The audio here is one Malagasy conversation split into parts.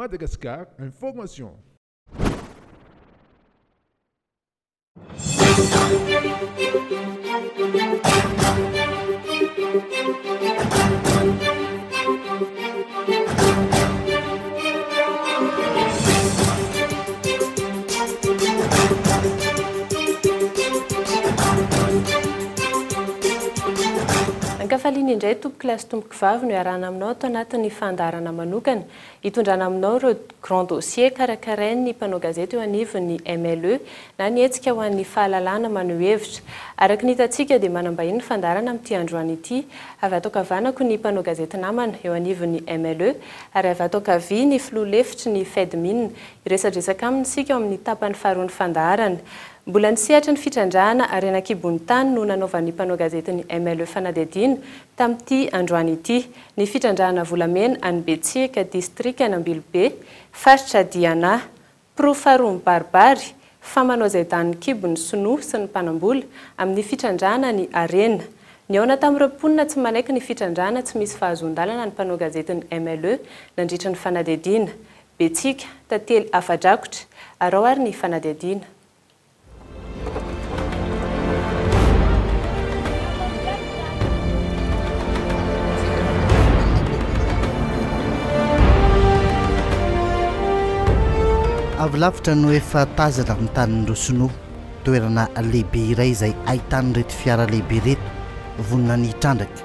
Madagascar Information. Ankafaliana indray tompoko lahy sy tompoko vavy no iarahana aminao ato anatin'ny fandaharana manokana hitondrana aminao ireo Grand Dossier karakarain'ny mpanao gazety eo anivon'ny MLE na ny hetsika ho an'ny fahalalahana maneho hevitra. Araka ny hitantsika dia manam-bahiny ny fandaharana amin'ity androany ity. Avy ato ankavanako ny mpanao gazety namana eo anivon'ny MLE ary avy ato ankavia ny filoha lefitry ny Fedmin. Hiresadresaka aminy isika ao amin'ny tapany faharoan'ny fandaharana. Mbola ny sehatry ny fitrandrahana harena an-kibon'ny tany no nanaovan'ny mpanao gazetin'ny MLE fanadihadiana tamin'ity androany ity. Ny fitrandrahana volamena any Betsiaka, distrikan'Ambilobe, faritra Diana. Porofo faharoa mibaribary fa manao izay danin'ny kibo ny sinoa sy ny mpanam-bola amin'ny fitrandrahana ny harena. Nihaona tamin'ireo mponina tsy manaiky ny fitrandrahana tsy misy fahazoan-dalana ny mpanao gazetin'ny MLE nandritra ny fanadihadiana. Betsika, tantely afa-drakotra, arao ary ny fanadihadiana. Avy lavitra no efa tazana amin'ny tanin'ny roa sinoa, toerana lehibe iray izay ahitan'ireto fiara lehibe ireto vonona ny hitrandraka.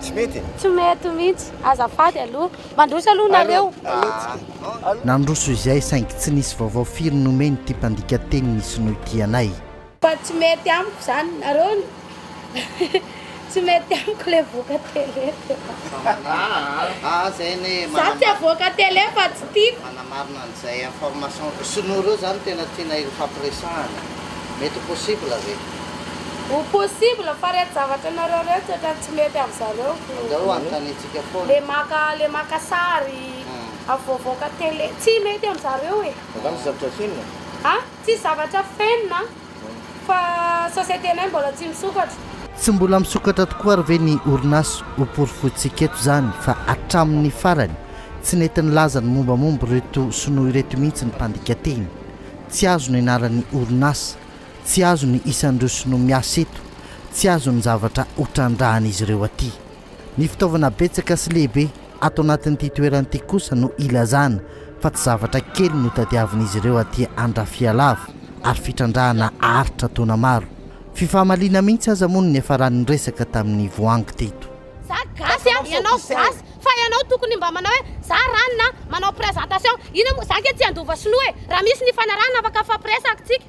Tsy mety e. Tsy mety mintsy. Azafady aloha. Mandroso aloha nareo. Aa. Nandroso izay saingy tsy nisy vaovao firy nomeny ity mpandika teny ny sinoa ity anay. Fa tsy mety amiko zany nareo ny tsy mety amiko le voka tele de fa za tsy avoaka tele fa tsy tiako. Manamarina an'izay information sinoa reo zany tena tianay hofampiresahana mety possible ve? Ou possible fa reto zavatra nareo reto toetrany tsy mety am zareo ko. Andao anontaniantsika foana. Le maka le maka sary avy voavaoka tele tsy mety am zareo e. Angamba tsy zavatra fenina e. A, tsisy zavatra fenina fa société nay mbola tsy misokatra. Tsy mbola misokatra tokoa ary ve ny orinasa? Ho porofointsika eto izany fa hatramin'ny farany tsy nety nilaza ny mombamomba ireto sinoa ireto mihitsy ny mpandika teny. Tsy azo ny anaran'ny orinasa. Tsy azo ny isan'ireo sinoa miasa eto, tsy azo ny zavatra hotrandrahan'izy ireo aty. Ny fitaovana betsaka sy lehibe ato anatin'ity toerana ity kosa no ilazana fa tsy zavatra kely no tadiavin'izy ireo aty Andrafialava ary fitrandrahana aritra taona maro. Fifamaliana mihitsy aza moa no niafaran'ny resaka tamin'ny voangy teto. Za gasy an, ianao gasy, fa ianao tokony mba manao hoe za ranona, manao présentation, ina moa, za ange tsy handova sinoa e, raha misy ny hifanarahana afaka hifampiresahaky tsika.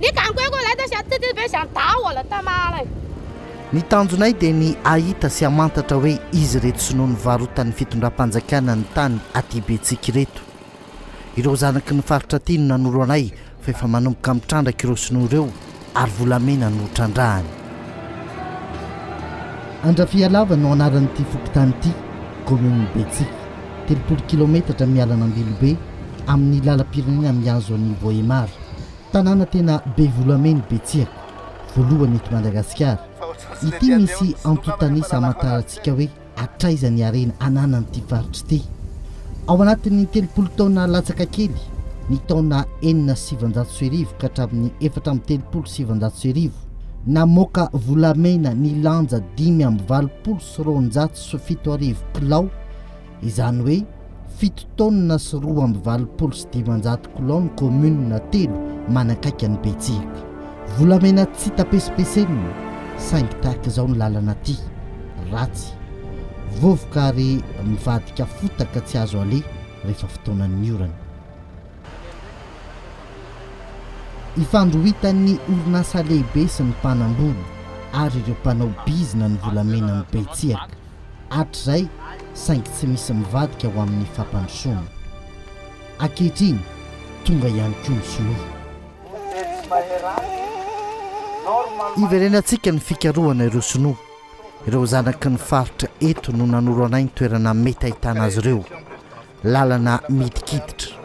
Ny gangoeko ilay tao sy ato tety be sy any daholo tamala e. Ny tanjonay dia ny hahita sy hamantatra hoe izy ireto sinoa nivarotan'ny fitondram-panjakana ny tany aty Betsika ireto. Ireo zanaky ny faritra aty no nanoro anay fa efa manomboka mitrandraka ireo sinoa ireo ary volamena no trandrahany. Andrafialava no anaran'ity fokontany ity, kaominin'i Betsika, telopolo kilaometatra miala an'Ambilobe, amin'ny lalam-pirenena mihazo an'i Vohémar. Tanàna tena be volamena i Betsira, voalohany eto Madagasikara. Ity misy antontan'isa hamantarantsika hoe hatraiza ny harena ananan'ity faritra ity. Ao anatin'ny telopolo taona latsaka kely, ny taona enina sy sivinjato sy arivo ka hatramin'ny efatra amby telopolo sy sivinjato sy arivo, namoaka volamena nilanja dimy amby valopolo sy roanjato sy fito arivo kilao, Izany hoe fito taonina sy roa amby valopolo sy dimanjato kilao ny kaominina telo manakaiky an'i Betsirika. Volamena tsy tapesipesenina saingy tahaka izao ny lalana aty, ratsy, vovoka ary mivadika fotaka tsy azo aleha rehefa fotoanan'ny orana. Ifandrohitan'ny orinasa lehibe sy ny mpanambola ary ireo mpanao bizina ny volamena amin'i Betsirika. hatrizay saingy tsy misy mivadika ho amin'ny fampandrosoana. Ankehitriny, tonga ihany koa ny sinoa. Iverenantsika ny fikarohana ireo sinoa. Ireo zanaky ny faritra eto no nanoro anay ny toerana mety ahitana azy ireo. Lalana midikiditra.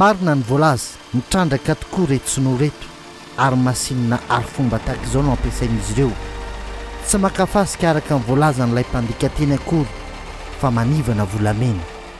Marina ny voalaza, mitrandraka tokoa reto sinoa reto ary masinina arifomba tahaka izao no ampiasain'izy ireo. Tsy maka fasika araka ny voalazan'ilay mpandika teny akory fa manivana volamena.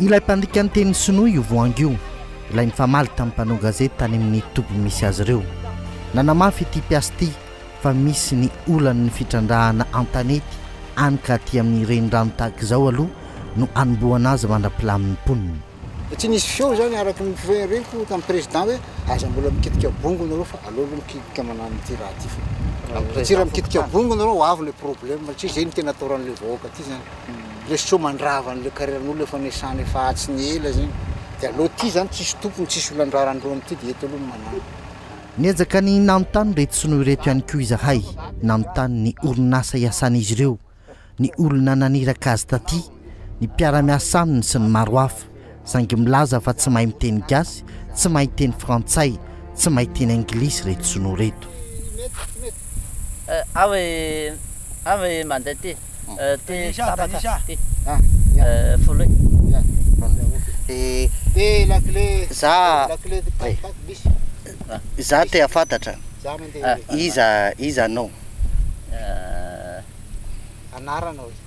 Ilay mpandika ny teny sinoa io voangy io, ilay nifamaly tamin'ny mpanao gazety tany amin'ny toby misy azy ireo. Nanamafy ity mpiasa ity fa misy ny olan'ny fitrandrahana an-tanety any ka aty amin'ny renirano tahaka izao aloha no anombohana azy mandra-pilamin'ny mponina. Tsy nisy feo izany araka ny fireharehako tamin'ny prezida hoe aza mbola mikitika bongo ianareo fa aleo aloha mikitika manano ity raha ity fa raha mbola tsy raha mikitika bongo ianareo ho avy ilay problema satria izay no tena ataoran'ilay vahoaka aty izany. le sao mandrava an'le carrière-n'olo efa nesana efa atsy ny ela zegny de aleo ty zany tsisy tompony tsisy olo andrarandreo amty de eto aloha no manana. Niezaka ny nanontany ireto sinoa ireto ihany koa izahay, nanontany ny orinasa iasan'izy ireo, ny olona naniraka azy taty, ny mpiara-miasa aminy sy ny maro hafa. Saingy milaza fa tsy mahay miteny gasy, tsy mahay teny frantsay, tsy mahay teny anglisy reto sinoa reto. Aho e aho e mandeha ty ty tapaka ty folo e. Za za te hafantatra iza iza anao? Anarana oe.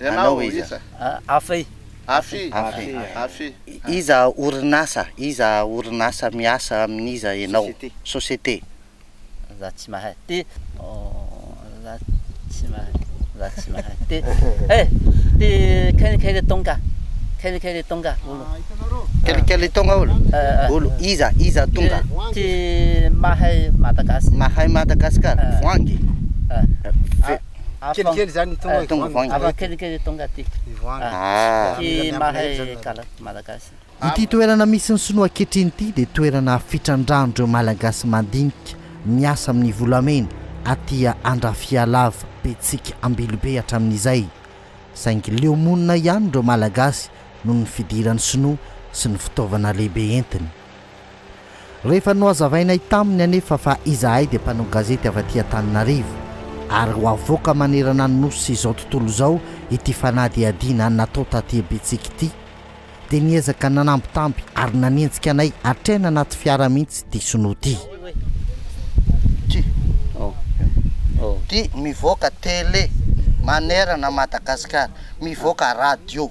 Ianao iza? Afe. Afe. Afe. Iza orinasa? Iza orinasa miasa amin'iza ianao? Société. Za tsy mahay. Ty. Za tsy mahay. Za tsy mahay. Ty. He! Ty kely kely tonga. Kely kely tonga olo. Kely kely tonga olo? Olo iza? Iza tonga? Ty mahay Madagasikara. Mahay Madagasikara. Voangy. Kelikely izany tonga eh, tonga voahangy. Avy kelikely tonga aty. Voahangy. Ah. Ty mahay kala malagasy. Ity toerana misy ny sinoa ankehitriny ity dia toerana fitrandrahan'ireo Malagasy mandinika miasa amin'ny volamena aty Andrafialava, Betsiky Ambilobe hatramin'izay. Saingy leo monina ihany ireo Malagasy noho ny fidiran'ny sinoa sy ny fitaovana lehibe entiny. Rehefa nohazavainay taminy anefa fa izahay dia mpanao gazety avy aty Antananarivo ary ho avoaka manerana ny Nosy izao tontolo izao ity fanadihadiana natao taty Betsiky ity dia niezaka nanambitamby ary nanenjika anay hatrany anaty fiara mihitsy ity sinoa ity. Mivoaka tele manerana Madagasikara, mivoaka radio.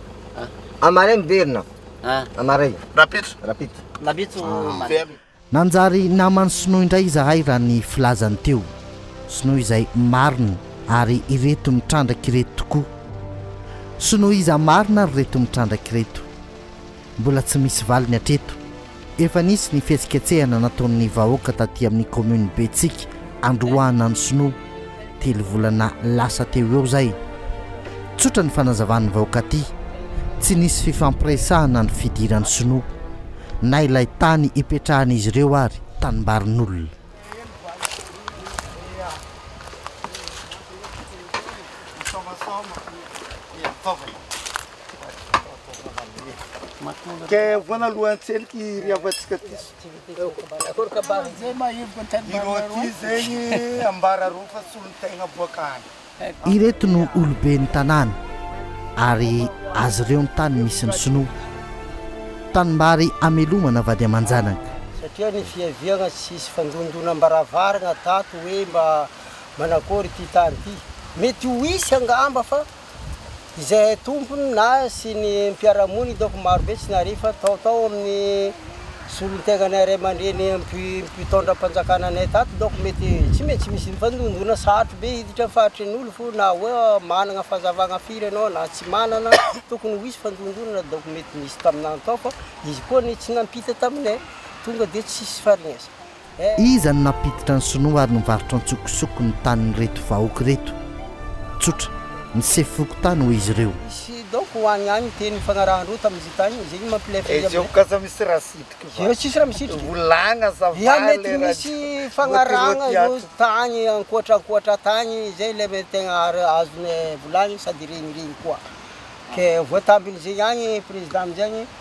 Amaray miverina. Amaray. Rapitso. Rapitso. Rapitso. Nanjary naman'i Sinoa indray izahay raha ny filazany teo. Sinoa izay marina ary ireto mitrandraka ireto tokoa. Sinoa iza marina ary ireto mitrandraka ireto. Mbola tsy misy valiny hatreto. Efa nisy ny fihetsiketsehana nataon'ny vahoaka taty amin'ny kaominina Betsiky androahana ny sinoa telo volana lasa teo eo izay. Tsotra ny fanazavan'ny vahoaka aty, tsy nisy fifampiresahana ny fidiran'ny sinoa, na ilay tany ipetrahan'izy ireo ary tanimbarin'olona. Ireto no oloben'ny tanàna ary azy ireo ny tany misy ny sinoa. Tanimbary amelomana vady aman-janaka. Satria ny fiaviagna tsy hisy fandondonam-baravaragna tato hoe mba manakory ity tany ity. Mety ho hisy angamba fa. izay tompony na sy ny mpiara-monina hitako marobe tsy narivo fa tao tao amin'ny solon-tenanay ray aman-dreny mpitondram-panjakana anay tato donc mety tsy maintsy misy nifandondona sarotra be hiditra ny faritry ny olo fo na hoe manana fahazavana firy ianao na tsy manana tokony ho hisy fandondonana donc mety nisy taminany tao fa izy koa anie tsy nampita taminay tonga dia tsisy faharegnesana Iza no nampiditra ny sinoa ary nivarotra antsokosoko ny tanin'ireto vahoaka ireto? Tsotra, ny sefo fokontany hoy izy ireo. Misy donc ho any any teny ifagnarahan-droa tamin'izy tany izay ny mampilefa izy amin'izay. Ezoko aza misy raha sitriko va. Eo tsisy raha misitrika. Volagna za va le raha. Dia mety misy fagnarahagna ireo tany ankoatra ankoatra tany izay ilay mety tegna azonay volagny sady regny regny koa. Ke voatambin'izay agny président amin'izay agny.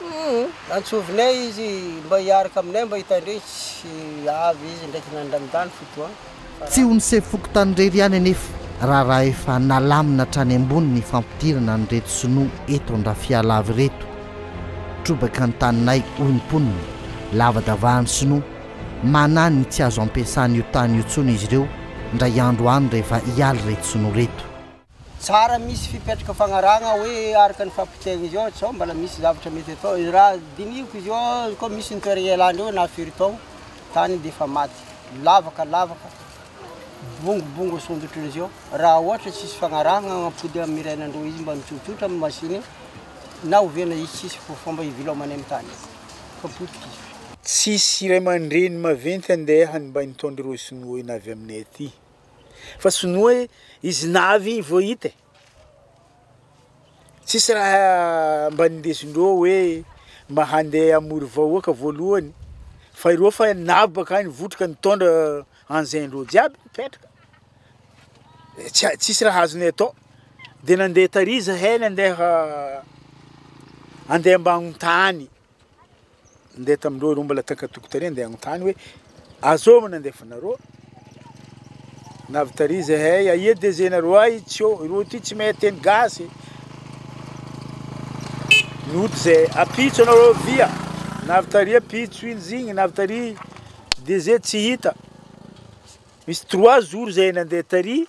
Humm antsovinay izy mba hiaraka aminay mba hitandreny tsy avy izy ndraiky nandranidany fotoagna fa Tsy ho ny sefo fokontany irery ihany anefa raharaha efa nalamina hatrany ambony ny fampidirana an'ireto sinoa eto Andrafialava ireto. Trobaka ny taninay hoy ny mponina, lavadavahan'ny sinoa, manahy ny tsy azo ampiasana io tany io intsony izy ireo indray andro any rehefa hiala ireto sinoa ireto. Tsara misy fipetraka fagnarahagna hoe araka ny fampitaigny izy eo sao mbala misy zavatra mety atao e raha dinihiko izy eo koa misy ny toeragna ialagny eo na firy taogno tany de efa maty lavaka lavaka bongobongo asondrotry ny zeo raha ohatra tsisy fagnarahagna agnapody amy iray na indroa izy mba mitsotsotra amy machine na ovena izy tsisy fo fomba ivilaomagny amy tany fa potika izy fa. Tsisy ray aman-dreny maventy andeha hanimba ny taon'ireo sinoa io na avy aminay aty. Fa sonoa e, izy navy igny vao hita e, tsisy raha mba nindesindreo hoe mba handeha hamory vahoaka voalohany fa ireo fa navy bakany votroka nitondra engins-ndreo jiaby mipetraka, tsy a- tsisy raha azonay atao de nandeha tary zahay nandeha handeha ambanin-tany. Ndeha tamin'ireo ireo mbola takatoko tary ndeha hanontany hoe azôva nandefanarô na avy tary zahay aia DG nareo ay tsy ô ireo ty tsy mahay teny gasy nody zay apitso anareo via na avy tary apitso iny zigny na avy tary DG tsy hita misy trois jours zay nandeha tary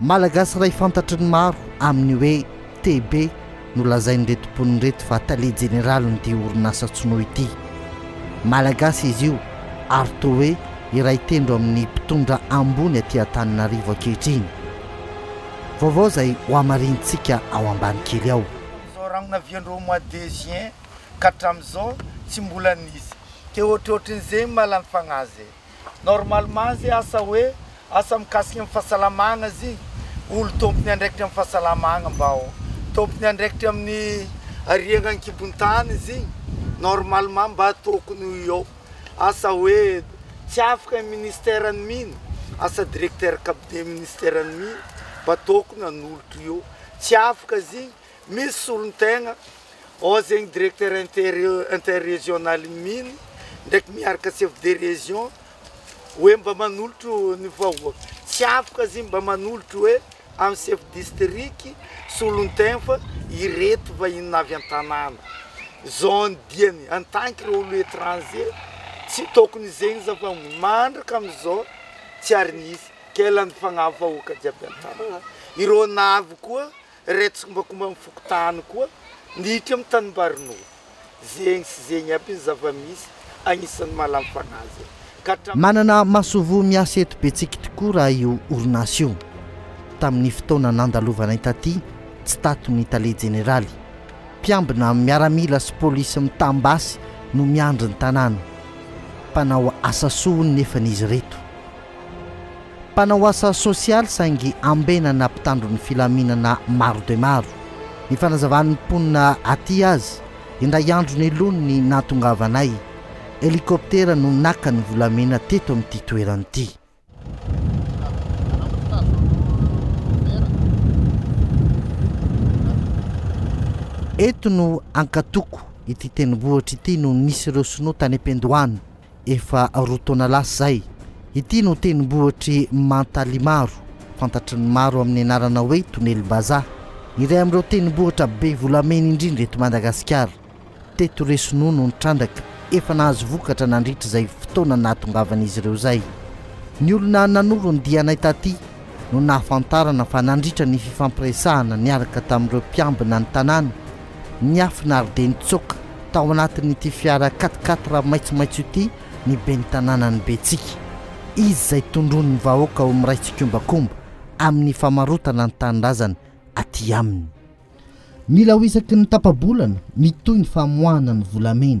Malagasy iray fantatry ny maro amin'ny hoe TB no lazain'ireto mponina ireto fa tale jeneralin'ity orinasa Tsno ity. Malagasy izy io ary toa hoe iray tendro amin'ny mpitondra ambony aty Antananarivo ankehitriny. Vaovao izay hohamarinintsika ao ambany kely ao. Izao rano navian-dreo mois de juin ka hatramin'izao tsy mbola nisy. Ke ohatrohatrin'izay malany fagnahy zay. normalement zay asa hoe asa mikasika ny fahasalamagna zy olo tompony andraikitra am fahasalamagna mba ho tompony andraikitra amin'ny ariagna ankibon-tany zy normalement mba tokony ho eo asa hoe tsy afaka ny ministère ny mino asa directeur cabinet ministère ny mino mba tokony hanolotra eo tsy afaka zy Misy solontegna ao zegny directeur interregional-n'ny mines ndraiky miaraka chef de région hoe mba manolotro ny vahoaka, tsy afaka izy mba manolotro hoe amin'ny chef district solontegna fa ireto vahiny avy an-tanàna zone diany en tant que olo étranger tsy tokony izegny za fa mandraka amizao tsy ary nisy, kay lany fagnahy vahoaka jiaby an-tanàna, ireo navy koa Ireo tsikombakomba amin'ny fokontany koa miditra amin'ny tanimbarin'olona. Zegny sy zegny aby ny zava-misy agnisan'ny mahalany fanahy azy ka hatramin'ny. Manana masoivoho miasa eto Betsiky tokoa raha io orinasa io. Tamin'ny fotoana nandalovanay taty, tsy tato ny tale jeneraly. Mpiambina miaramila sy polisy mitam-basy no miandry ny tanàna. Mpanao asa soa hono nefany izy ireto. Mpanao asa sosialy saingy ambenana mpitandro ny filaminana maro dia maro. Ny fanazavan'ny mponina aty azy, indray andro neloany ny nahatongavanay. Helikoptera no naka ny volamena teto amin'ity toerana ity. Eto no ankatoko ity tendrombohitra ity no nisy ireo sinoa tany am-piandohana. efa roa taona lasa izay. Ity no tendrombohitr'i Mantalimaro, fantatry ny maro amin'ny anarana hoe Tonelombazaha, iray amin'ireo tendrombohitra be volamena indrindra eto Madagasikara. Teto Resonoa no nitrandraka, efa nahazo vokatra nandritra izay fotoana nahatongavan'izy ireo izay. Ny olona nanoro ny dianay taty no nahafantarana fa nandritra ny fifampiresahana niaraka tamin'ireo mpiambina ny tanàna, Niafinary dia nitsoaka tao anatin'ity fiara quatre quatre maitsomaitso ity ny ben'ny tanànan'i Betsika. Izy izay tondroin'ny vahoaka ho miray tsikombakomba amin'ny famarotana ny tanindrazany aty aminy. Mila ho isaky ny tapa-bolana mitohy ny famoahana ny volamena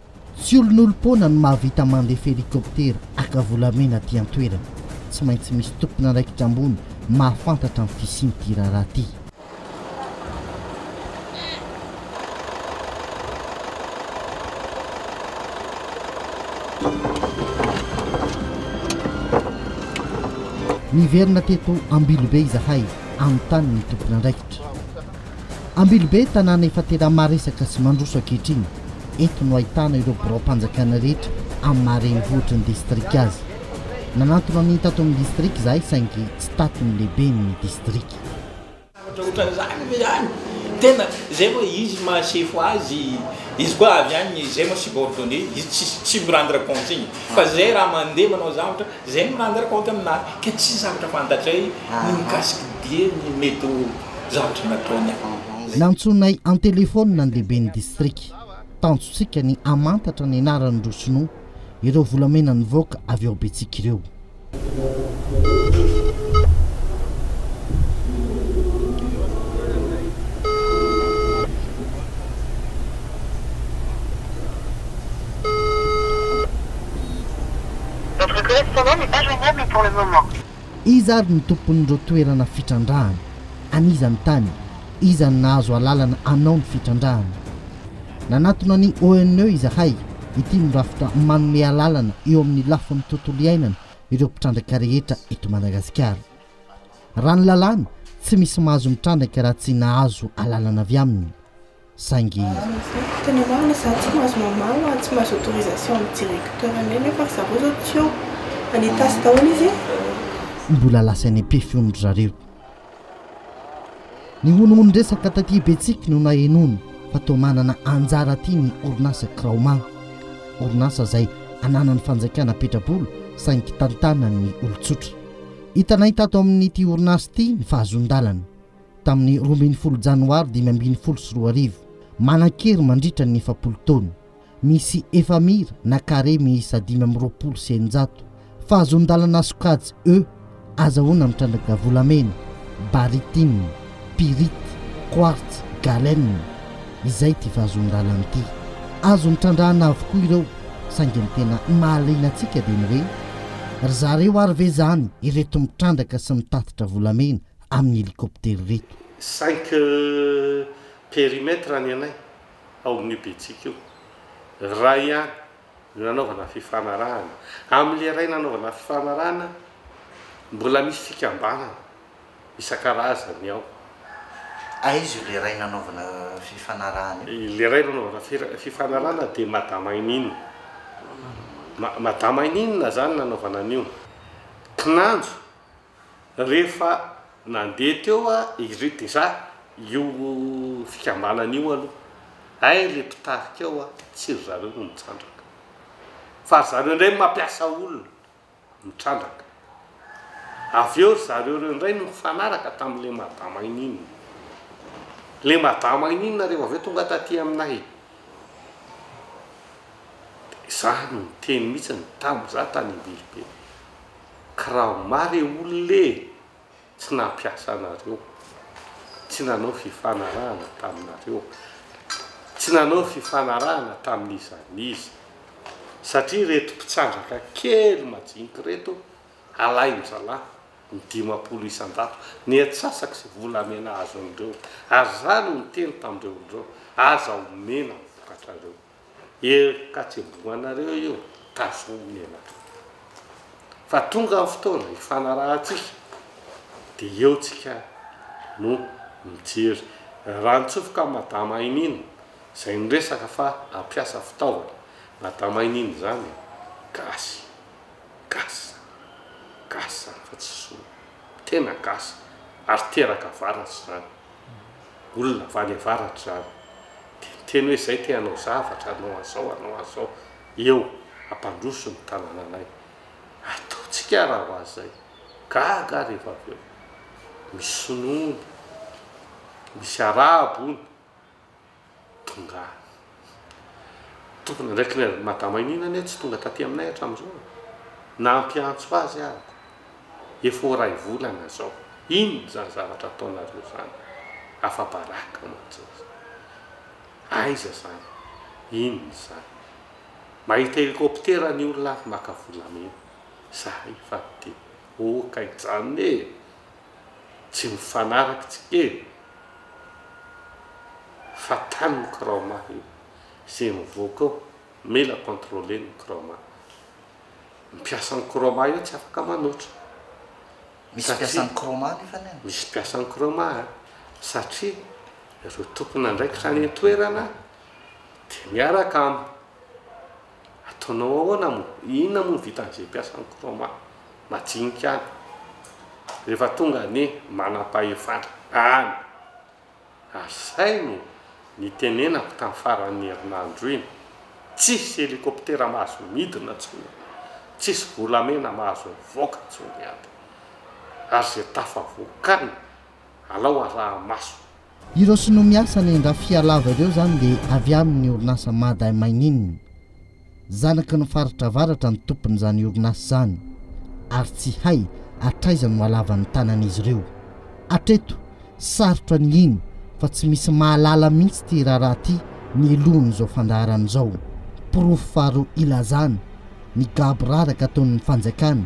Tsy olonolom-poana no mahavita mandefa helikoptera haka volamena aty an-toerana. Tsy maintsy misy tompon'andraikitra ambony mahafantatra ny fisian'ity raharaha ity. Niverina teto Ambilobe izahay, anontany ny tompon'andraikitra. Ambilobe, tanàna efa tena maresaka sy mandroso ankehitriny. Eto no ahitana ireo biraom-panjakana rehetra amin'ny maha renivohitry ny distrika azy. Nanantona an'iny tato amin'ny distrika izahay saingy tsy tato ny lehiben'ny distrika. Ohatraohatran'izany ve any? Tena izay moa izy maha sefo azy, izy koa avy any izay moa subordonne izy tsy tsy mi rendre compte iny fa izay raha mandeha manao zavatra izay mi rendre compte aminazy ka tsy zavatra fantatray ny mikasika dia ny mety ho zavatra nataony en. Nantsoinay an-telefaonina ny lehiben'ny distrika. Tanjontsika ny hamantatra ny anaran'ireo Sinoa, ireo volamena nivoaka avy ao Betsiky ireo. Iza ary ny tompon'ireo toerana fitrandrahana? An'iza ny tany? Iza no nahazo alalana hanao ny fitrandrahana? Nanatona ny ONE izahay, ity no rafitra manome alalana eo amin'ny lafiny tontolo iainana ireo mpitrandraka rehetra eto Madagasikara. Raha ny lalàna, tsy misy mahazo mitrandraka raha tsy nahazo alalana avy aminy. saingy. Tena marina za tsy mahazo mamaha tsy mahazo autorisation ny directeur anay nefa ry zareo zao tsy eo fa nitasy daholo izy. Mbola lasa any ampefy hono ry zareo. Ny honohonon-dresaka taty Betsiky no nahenoana fa toa manana anjara aty ny orinasa Kraoma. Orinasa izay ananan'ny fanjakana petrabola saingy tantanan'ny olon-tsotra. Hitanay tato amin'ity orinasa ity ny fahazoan-dalana. tamin'ny roa ambin'ny folo Janoary dimy ambin'ny folo sy roa arivo. Manan-kery mandritra ny efapolo taona. Misy efamira na carré miisa dimy amby roapolo sy eninjato. Fahazoan-dalana sokajy E. Azahoana mitrandraka volamena, barytine, pyrite, quartz, galena. Izay ity fahazoan-dalana ity. Azon'ny trandrahana avokoa ireo, saingy ny tena mahaliana antsika dia ny hoe, ry zareo ary ve izany ireto mitrandraka sy mitatitra volamena amin'ny helicoptère ireto. Cinq périmètres ny anay ao amin'io betsiky io. Iray ihany no nanaovana fifanarahana. Amin'ilay iray nanaovana fifanarahana, mbola misy fikambanana isan-karazany ao. Aiza io ilay iray nanaovana fifanarahana io? Ilay iray nanaovana fifanarahana dia Madame Ainine. Madame Ainine izany nanaovana an'io. Kinanjo. Rehefa nandeha teo iry déjà io fikambanana io aloha hay le mpitarika ao a, tsy ry zareo no mitrandraka fa ry zareo indray mampiasa olona mitrandraka, avy eo ry zareo reo indray no nifanaraka tamin'le madama inin, le madama inin rehefa avy eo tonga taty aminay de za no niteny mihitsy tamin'za tany Ambilobe. Kraoma re olona e! Tsy nampiasa anareo, tsy nanao fifanarahana taminareo, tsy nanao fifanarahana tamin'iza n'iza, satria reto mpitsandraka kely majinika reto alain-dralahy ny dimampolo isan-jato, ny antsasaka sy volamena azon'ireo, ary za no niteny tamin'ireo olona ireo, aza omena ny vokatrareo. Heloka tsy miboanareo io ka zony ianareo fa tonga ny fotoana hifanarahantsika de eo tsika no mijery raha nitsofoka madama Ainina zay niresaka fa hampiasa fitaovana madama Ainina zany gasy gasy zany gasy zany fa tsy sinoa tena gasy ary teraka avaratsy zany Olona avy any avaratra izany dia niteny hoe izay te hanao zavatra hanao an'izao hanao an'izao eo hampandroso ny tanananay. Ataontsika ary raha hoazy izay. Gaga aho rehefa avy eo. Misy sinoa ony. Misy arabo ony. Tonga any. Tokony ndraiky le madama iniana anie tsy tonga taty aminay hatramin'izao e! Nampiantso azy aho ko! Efa ho ray volana zao! Inona izany zavatra ataonareo izany? Afa-baraka mantsy izy! Aiza izany? Inona izany? Mahita helikoptera ny olona avy maka volamena! Zahay efa te ho kaijanona e! tsy mifanaraka tsy eny fa tany ny Kraoma io ze mivoaka eo mila controler ny Kraoma ny mpiasan'ny Kraoma io tsy afaka manotra misy mpiasan'ny Kraoma nefa ny any misy mpiasan'ny Kraoma satria ireo tompon'andraikitra any an-toerana dia miaraka am Ataonao ahoana moa? Inona moa no vitan'izay mpiasan'ny Chroma? Majinika any. Rehefa tonga ny manam-pahefana any, asainy ny tenenako tamin'ny faran'ny herinandro iny, tsisy helikoptera mahazo midina intsony, tsisy volamena mahazo mivoaka intsony any, ary izay tafavoaka any alao araha maso. Ireo sinoa miasa any Andrafihalava ireo izany dia avy amin'ny orinasa Mada Mining. Zanaky ny faritra avaratra ny tompon'izany orinasa izany ary tsy hay hatraiza no halava ny tanan'izy ireo. Hatreto, sarotra ny hino fa tsy misy mahalala mihitsy ity raharaha ity mialohan'izao fandaharana izao. Porofo faharoa ilazana ny gaboraraka ataon'ny fanjakana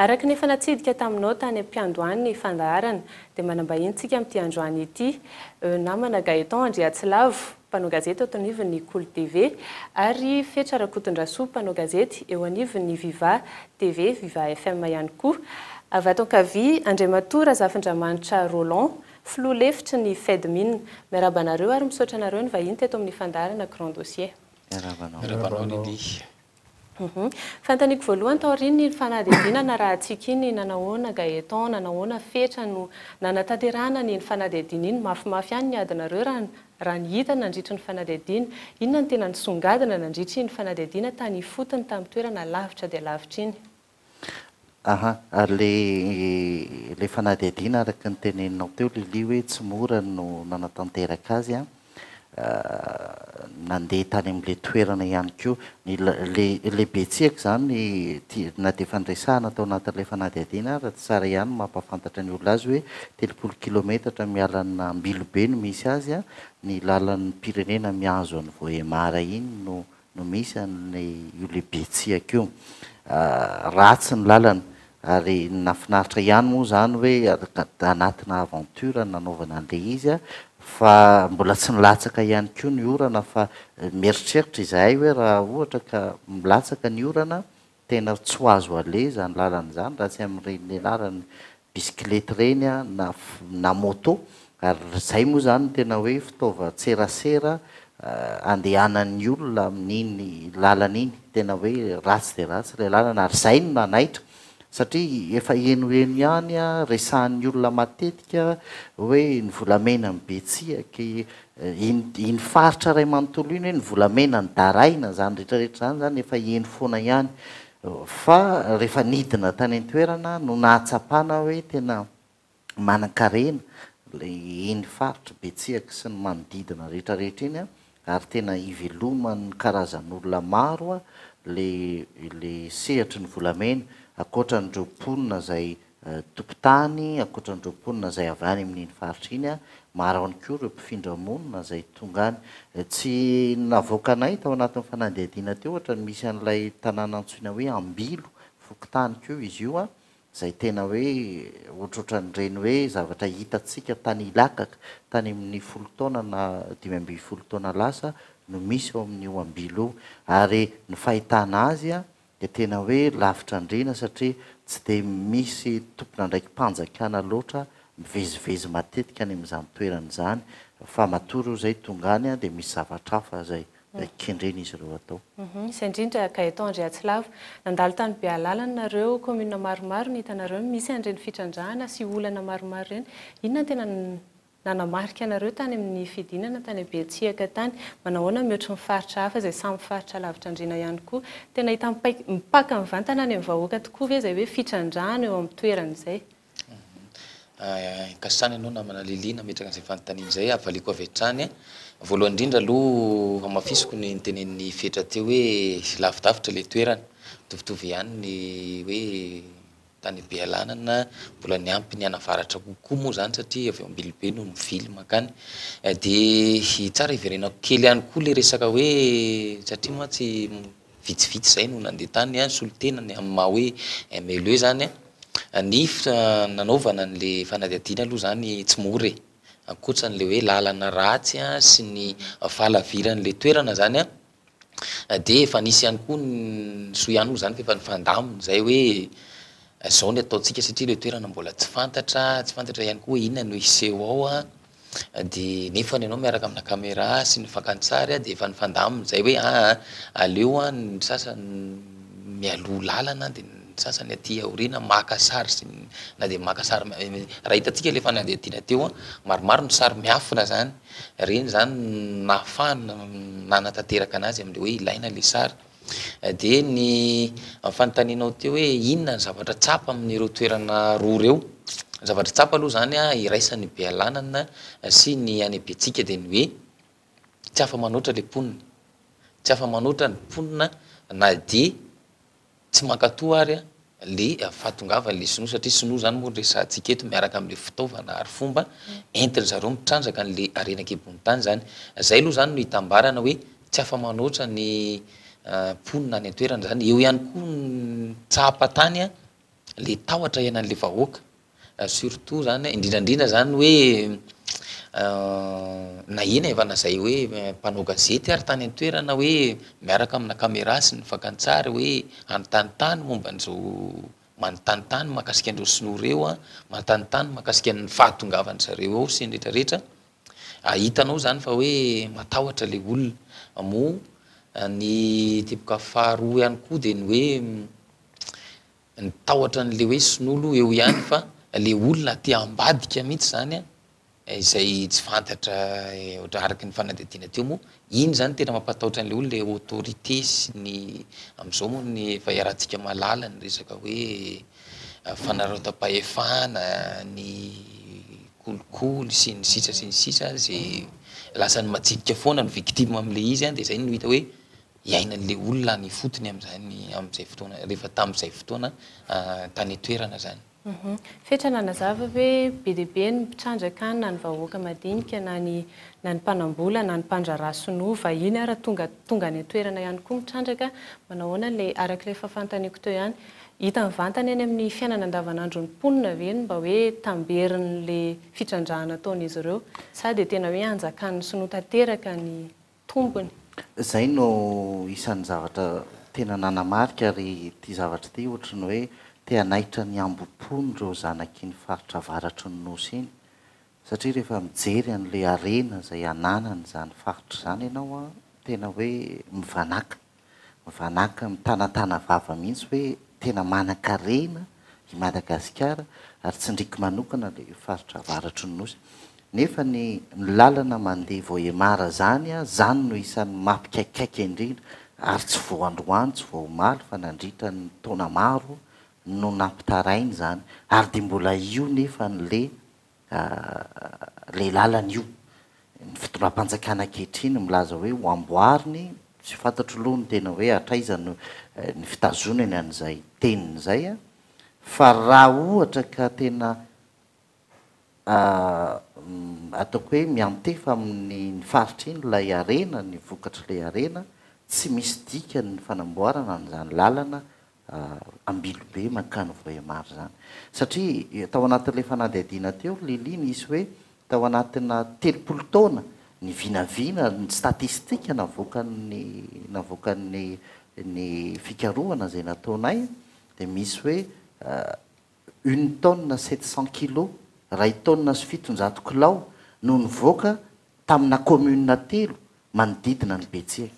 Araka ny efa natsidika taminao tany am-piandohany ny fandaharana, dia manambahintsika amin'ity androany ity eo namana Gaëtan Andriatsilavo, mpanao gazety eto anivon'ny Kolo TV, ary Fetra Rakotondrasoa, mpanao gazety eo anivon'ny Viva TV, Viva FM ihany koa. Avy ato ankavia, Andriamatoa Razafindramanitra Roland, filoha lefitry ny Fedmin. Miarahaba anareo ary misaotra anareo nivahiny teto amin'ny fandaharana Grand Dossier. Miarahaba anao. Miarahaba anao Lily. Fantaniko voalohany taorian iny fanadihadiana narahantsika iny nanahoana Gaëtan, nanahoana Fetra no nanatanterahana an iny fanadihadiana iny, mafimafy ihany ny adinareo raha ny hita nandritry ny fanadihadiana. Inona no tena nisongadina nandritry iny fanadihadiana tany ifotony tamin'ny toerana lavitra dia lavitra iny? Aha, ary ilay ilay fanadihadiana araka ny teneninao teo Lily hoe tsy mora no nanatanteraka azy an, nandeha tany amin'ilay toerana ihany koa ny ilay ilay betsiaka izany na dia efa niresahana tao anatin'ilay fanadihadiana ary tsara ihany ny mampahafantatra ny olona azy hoe telopolo kilometatra miala an' Ambilobe no misy azy an, ny lalan'ny mpirenena mihazo an'i Vohemar iny no no misy an' io lehibe tsiaka io. Ratsy ny lalana ary nafinaritra ihany moa izany hoe anatina aventure nanaovana an'ilay izy fa mbola tsy nilatsaka ihany koa ny orana fa mieritreritra izahay hoe raha ohatra ka milatsaka ny orana Tena tsy ho azo aleha izany lalana izany raha tsy amin'ireny nianarany bisikilety ireny a, na na moto, ary izay moa izany no tena hoe fitaovan-tserasera andehanan'ny olona amin'iny lalana iny, tena hoe ratsy dia ratsy ilay lalana ary izay no nanaitra satria efa henoheno ihany a, resahan'ny olona matetika hoe ny volamenan'ny betsiaky, Iny faritra iray manontolo iny hoe ny volamena, ny daraina, izany rehetra rehetra izany izany efa heno foana ihany. Fa rehefa nidina tany an-toerana no nahatsapana hoe tena manankarena iny faritr'i Betsihaky sy ny manodidina rehetra rehetra iny an, ary tena iveloman'ny karazan'olona maro ilay sehatry ny volamena, ankoatra an'ireo mponina izay tokontany ankoatran'ireo mponina izay avy any amin'iny faritra iny, maro ihany koa ireo mpifindra monina izay tonga any. Tsy navoakanay tao anatin'ny fanadihadiana teo ohatra ny misy an'ilay tanàna antsoina hoe Ambilo, fokontany koa izy io, izay tena hoe ohatrohatran'ireny hoe zavatra hitantsika tany Ilakaka tany amin'ny folo taona na dimy ambin'ny folo taona lasa no misy ao amin'io Ambilo io. Ary ny fahitana azy dia tena hoe lavitra andriana satria tsy dia misy tompon'andraiki-panjakana loatra mivezivezy matetika any amin'izany toerana izany fa matoa ireo izay tonga any dia misy zavatra hafa izay kendren'izy ireo atao. Misy indrindra, Gaëtan Andriatsilavo. Nandalo tany Bealala ny nareo, commune maromaro ny hitanareo misy an'ireny fitrandrahana sy olana maromaro ireny. Inona ny tena Nanamarika anareo tany amin'ny fidinana tany Abetsiaka tany. Manahoana mihoatry ny faritra hafa izay samy faritra lavitra andriana ihany koa. Tena hita mipaika mipaka mivantana any amin'ny vahoaka tokoa ve izay hoe fitrandrahana eo amin'ny toerana izay? Inkasana ianao namana Lily nametraka an'izay fanontaniana izay, havaliako avy hatrany. Voalohany indrindra aloha hamafisiko ny notenenin'i Fetra teo hoe lavidavitra ilay toerana, mitovitovy ihany ny hoe Tany Bealanana mbola niampy ny an'Avaratra kokoa moa izany satria avy ao Ambilobe no mivily mankany. Dia tsara hiverenako kely ihany koa ilay resaka hoe satria mantsy vitsivitsy izay no nandeha tany an, solontenany amin'ny maha hoe MLE izany an, ny nanaovana an'ilay fanadihadiana aloha izany tsy mora e, ankoatran'ilay hoe lalana ratsy sy ny fahalaviran'ilay toerana izany an. dia efa nisy ihany koa ny soa ihany moa zany fa efa nifandamina zay hoe zao ny ataontsika satria ilay toerana mbola tsy fantatra, tsy fantatra ihany koa hoe inona no hiseho ao an, dia nefany ianao miaraka amina camera sy ny fakantsary dia efa nifandamina zay hoe aa aleo an ny sasany mialoha lalana dia ny sasany aty aoriana maka sary sy ny na dia maka sary, raha hitantsika ilay fanadihadiana teo an, maromaro ny sary miafina zany. ireny izany no nahafahana nanatanteraka anazy amin'ilay hoe ilaina ilay sary. Dia ny fanontanianao teo hoe inona ny zavatra tsapa amin'ireo toerana roa ireo, ny zavatra tsapa aloha izany an, iraisan'ny Bealanana sy ny any Betsiaka dia ny hoe tsy afa-manoatra ilay mponina, tsy afa-manoatra ny mponina na dia Tsy mankatoa ary le fahatongavan le sinoa satria sinoa zany moa no resahantsika eto miaraka amle fitaovana ary fomba entin zareo mitrandraka anle harena ankibon'ny tany zany. Zay aloha zany no itambarana hoe tsy afa manoatra ny mponina any antoerana zany. Eo ihany koa ny tsapa tany le tahotra iananle vahoaka. Surtout zany indrindra indrindra zany hoe na eny e fa na zay hoe mpanao gazety ary tany an-toerana hoe miaraka amina camera sy ny fakantsary hoe hanontany tany momba an'izao manontany tany mahakasika an'ireo sinoa ireo a, manontany tany mahakasika ny fahatongavan-dry zareo ao sy ny rehetra rehetra, hitanao zany fa hoe matahotra le olona, moa ny teboka faharoa ihany koa de ny hoe Ny tahotra anle hoe sinolo eo ihany fa le olona te ambadika mihitsy zany izay tsy fantatra ohatra araky ny fanadihadiana teo moa iny zany tena mampatahotra anle olona le autorité sy ny amzao moa ny efa iarahantsika mahalala ny resaka hoe fanarautam-pahefana ny kolikoly sy ny sisa sy ny sisa ze lasany matsidika foana ny victime amle izy de zay no hita hoe iainan'ilay olona any ifotony amin'izany amin'izay fotoana rehefa tamin'izay fotoana tany an-toerana izany. Fetra nanazava hoe be dia be ny mpitrandraka any na ny vahoaka madinika na ny na ny mpanambola na ny mpandraharaha sinoa vahiny ara tonga tonga any an-toerana ihany koa mitrandraka manao ahoana ilay araka ilay fahafantaniako teo ihany hita mivantana eny amin'ny fiainana andavanandron'ny mponina ve ny mba hoe tamberin'ilay fitrandrahana ataon'izy ireo sa dia tena hoe hanjakan'ny sinoa tanteraka ny tombony. Izay no isan'ny zavatra tena nanamarika ary ity zavatra ity ohatry ny hoe te hanaitra ny hambom-pony ireo zanak'iny faritra avaratry ny Nosy iny satria rehefa mijery an'ilay harena izay ananany izany faritra izany ianao an, tena hoe mivanàka. mivananka mitanatana vava mihitsy hoe tena manankarena i Madagasikara ary tsindriko manokana ilay faritra avaratry ny nosy nefa ny ny lalana mandeha Vohemar zany a zany no isan'ny mapikaikaika indrindra ary tsy vao androany tsy vao omaly fa nandritra ny taona maro no nampitaraina izany ary dia mbola io nefa ny le Ilay lalana io. Ny fitondram-panjakana ankehitriny milaza hoe ho amboariny, tsy fantatro aloha ny tena hoe hatraiza no ny fitazonany an'izay teniny izay an! Fa raha ohatra ka tena ataoko hoe miantefa amin'iny faritra iny ilay harena, ny vokatr'ilay harena, tsy misy dikany ny fanamboarana an'izany lalana Ambilobe mankany Vohemar zany. Satria tao anatin'ilay fanadihadiana teo Lily nisy hoe tao anatina telopolo taona ny vinavina ny statistika navoakan'ny navoakan'ny ny fikarohana izay nataonay dia misy hoe une tonne sept cent kilos, iray taonina sy fitonjato kilao, no nivoaka tamina commune telo manodidina an'i Betsie.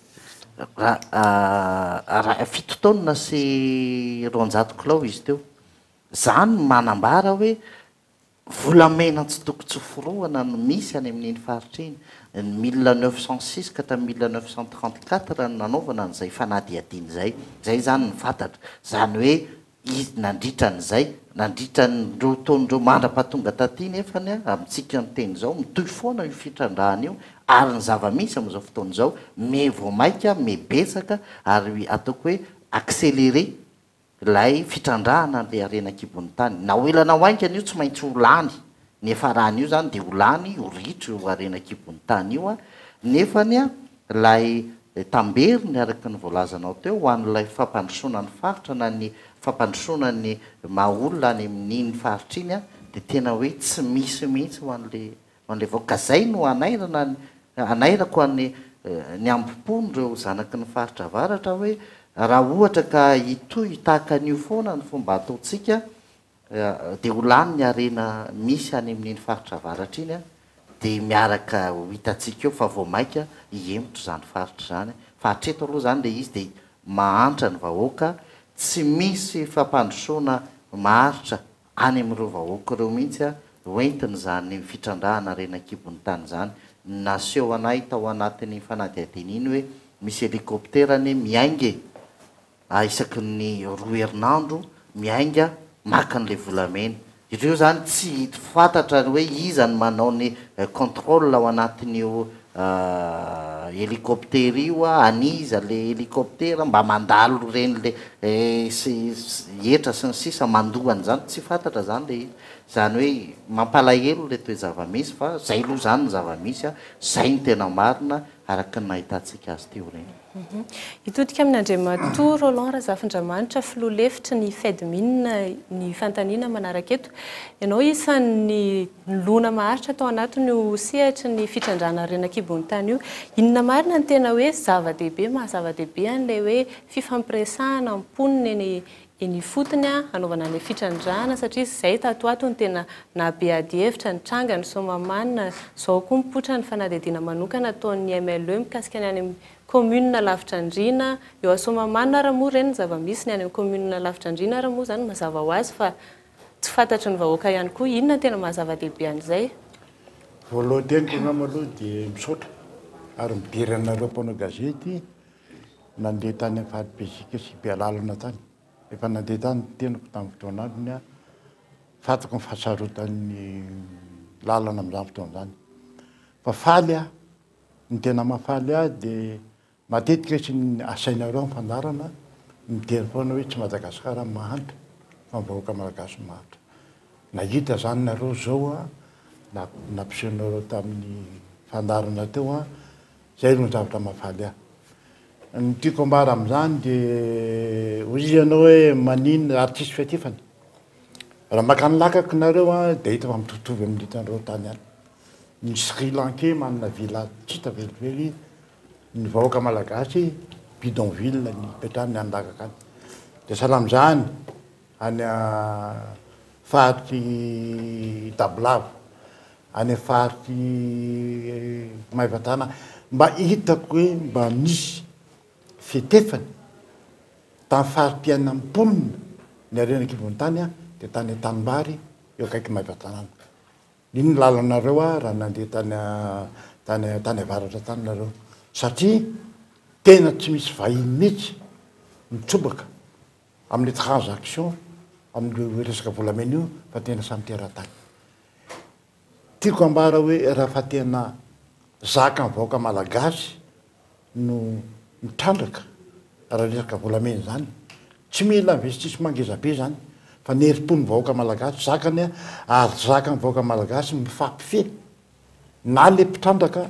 Raha fito taonina sy roanjato kilao izy teo. Izany no manambara hoe volamena tsy tokony tsy hoforohana no misy any amin'iny faritra iny. Ny mille neuf cent six ka hatramin'ny mille neuf cent trente quatre no nanaovana an'izay fanadihadiana izay. Izay izany no fantatra. Izany hoe. Izy nandritra an'izay, nandritra ny ireo taona ireo mandra-pahatonga taty nefany a, amintsika miteny izao, mitohy foana io fitrandrahana io ary ny zava-misy amin'izao fotoana izao, miha vao maika, miha betsaka ary ataoko hoe accéléré ilay fitrandrahana an'ilay harena an-kibon'ny tany. Na ho ela na ho haingana io tsy maintsy ho lany ny hiafarany io zany dia ho lany ho ritra io harena an-kibon'ny tany io nefany ilay tamberiny araka ny voalazanao teo ho an'ilay fampandrosoana ny faritra na ny fampandrosoana ny maha olona any amin'iny faritra iny dia tena hoe tsy misy mihitsy ho an'ilay ho an'ilay vahoaka ka zay no hanairana ny hanairako any ny hambom-pon'ireo zanaky ny faritra avaratra hoe raha ohatra ka hitohy tahaka an'io foana ny fomba ataontsika dia ho lany ny harena misy any amin'iny faritra avaratra iny dia miaraka ho hitantsika eo fa vao maika hihemotra izany faritra izany fa hatreto aloha izany ilay izy dia mahantra ny vahoaka tsy misy fampandrosoana maharitra any amin'ireo vahoaka ireo mihitsy ho entina izany fitrandrahana harena an-kibon'ny tany izany naseho anay tao anatin'iny fanadihadiana iny hoe misy helicoptera anie miainga e! a isaky ny roa herinandro miainga maka an'ilay volamena ireo izany tsy fantatra ny hoe iza ny manao ny contrôle ao anatin'io hélicoptère io a, an'iza le hélicoptère, mba mandalo reny le hetra sy ny sisa mandoa an'izany tsy fantatra izany le izy, izany hoe mampalahelo ilay toe-javamisy fa izay aloha izany ny zava-misy a, izay no tena marina araka ny nahitantsika azy teo ireny. Hitodika amin' Andriamatoa Roland Razafindramanitra, Filoha lefitry ny Fedmin ny fanontaniana manaraka eto. Ianao isan' ny nilona maharitra tao anatin' io sehatry ny fitrandrahana ny rena an-kibon' tany io. Inona marina no tena hoe zava-dehibe, maha-zava-dehibe an' ilay hoe fifampiresahana mponina eny eny ifotony hanaovana ilay fitrandrahana satria izay tato ato no tena nahabe adihevitra nitranga ny Soamahamanina, izao koa mipoitra ny fanadihadiana manokana ataon'ny MLE mikasika ny any amin'ny commune lavitra andriana eo à Soamahamanina ary moa ireny ny zava-misy ny any amin'ny commune lavitra andriana ary moa izany mazava ho azy fa tsy fantatry ny vahoaka ihany koa, inona no tena mahazava-dehibe an'izay? Voalohany indrindra angamba aloha dia misaotra ary midera anareo mpanao gazety Nandeha tany amin'ny faritr'i Bezika sy Bealalana tany. Rehefa nandeha tany ny tenako tamin'ny fotoana andro ny ahy, fantako ny fahasarotan'ny lalana amin'izany fotoana izany. Fa faly aho, ny tena mahafaly ahy dia matetika izy no asainareo amin'ny fandaharana, midera foana hoe tsy Madagasikara no mahantra fa ny vahoaka malagasy no mahantra. Nahita izany nareo izao nampisehonareo tamin'ny fandaharana teo aho. Zay no zavatra mahafaly ahy. Ny tiako ambara amin'izany de hoy ianao hoe manin ary tsisy fiatifana. Raha maka ny lakako nareo a de hita fa mitovitovy amin'ny hitanareo tany any. Ny sri lankais manana villa tsy hita velively, ny vahoaka malagasy bidonville ny hipetrahany any lakaka any. De sahala amin'izany. any faritry Tabolava, any faritry Maevatanà, mba hitako hoe mba misy fetefany tamin'ny fari-piainan'ny mponina niaren'ny kibon'ny tany aho dia tany an-tanimbary eo akaiky Maevatanàna. Iny ny lalanareo aho raha nandeha tany tany tany avaratra tany nareo satria tena tsy misy vahiny mihitsy mitsobaka amin'ny transaction amin'io resaka volamena io fa tena samy teratany. Tiako ambara hoe raha fa tena zaka ny vahoaka malagasy no mitrandraka raha resaka volamena izany tsy mila investissement ngeza be izany fa ny herim-pon'ny vahoaka malagasy zakany ary zakan'ny vahoaka malagasy mifampifehy na le mpitrandraka